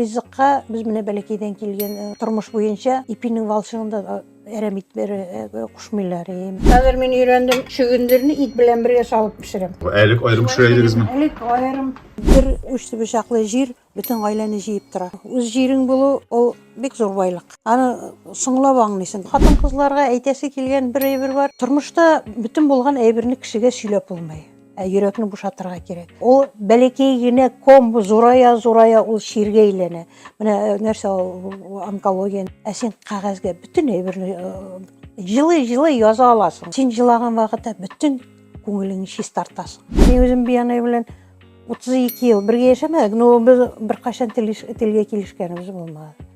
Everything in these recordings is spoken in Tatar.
Ризыкка без менә бәләкәйдән килгән э, тормыш буенча ипинең валчыгын да э, әрәм итмәре э, кушмыйлар. Э. Хәзер мин өйрәндем, чөгендерне ит белән бергә салып пешерәм. Әлек аерым пешерә идегезме? Әлек аерым бер уч бычаклы җир бөтен гаиләне җыеп тора. Үз җирең булу ул бик зур байлык. Аны соңлап аңлыйсың. Хатын-кызларга әйтәсе килгән бер әйбер бар. Тормышта бөтен булган әйберне кешегә сөйләп булмый. Ә йөрәкне бушатырга кирәк. Ул бәләкәй генә ком зурая зурая ул чиргә әйләнә. Менә э, нәрсә ул онкология. Ә син кагазьгә бөтен әйберне э, җылы җылы яза аласың. Син җылаган вакытта бөтен күңелеңне чистартасың. Мин үзем Биянай белән 32 ел бергә яшәмәдек, но без беркайчан телгә килешкәнебез булмады.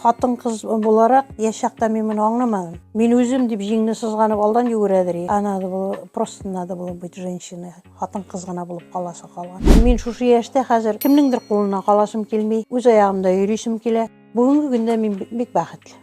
Хатын-кыз буларак, яшь чакта мин моны аңламадым. Мин үзем дип җиңне сызганып алдан йөгерәдер. А надо было, просто надо было быть женщиной. Хатын-кыз гына булып каласы калган. Мин шушы яшьтә хәзер кемнеңдер кулына каласым килми, үз аягымда йөрисем килә. Бүгенге көндә мин бик бәхетле.